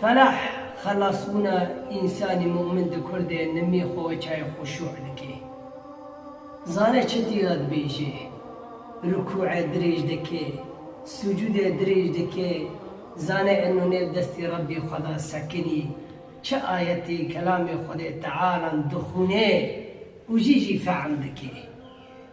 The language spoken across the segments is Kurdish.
Ferah, xelasbûna însanî mumin di kurdê nimî xwe çay xuşû dike. Zane çi tîya dibêje, rukûe dirêj dike, sucûdê dirêj dike, zane eno nê li destê Rebbê xwe da sekinî, çi ayetê kelamê Xwedê Tealan dixwune û jî jî fehm dike.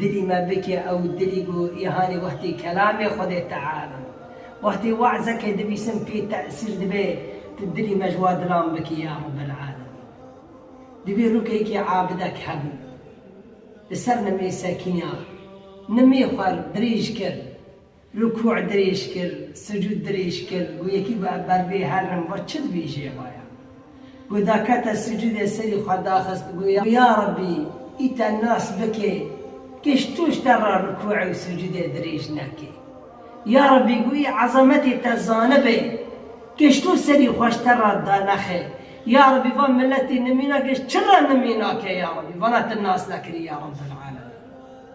Dilî me bike ew dilî ku îhanî wextê kelamê Xwedê Teala û wextê we'zekê dibîsim pê tesîr dibe, tu dilî me ji wan dilan bikî ya Rebel'alemîn. Divê rûkekî abidek hebû. Li ser nimê sekînya nimê xwe dirêj kir. Rukû dirêj kir, sucûd dirêj kir, got yekî got ev ber bê herim, vat çi dibêjê eva ya? Got da kete sucûdê serî xwe daxist got ya Rabbî î te nas bike kêş tu ji te re rukûê û sucûdê dirêj neke. Ya Rabbî got î ezametê te zanibe kêş tu serî xwe ji te re danexe. Ya Rabbî van miletê nimîna kêş çi re nimîna ke ya Rabbî vana tu nas nekirî ya Rabbel'alemîn.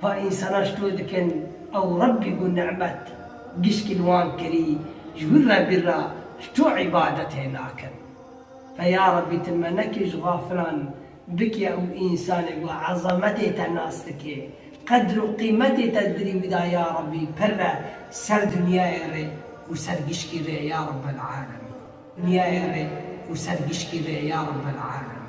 Va însanan ji to dikin ew Rebbî ku nimet giştî li wan kirî ji wî re bîr re ji to îbadetê nakin. Va ya Rebbî tu me nekî ji xafilan bikî ew însanê ku ezametê te nas dike, qedr û qîmetê te dirî wî da ya Rebbî pirre ser dinyayê rê û ser giştî rê ya Rebbel'alemîn. Dinyayê rê û ser giştî rê ya Rebbel'alemîn.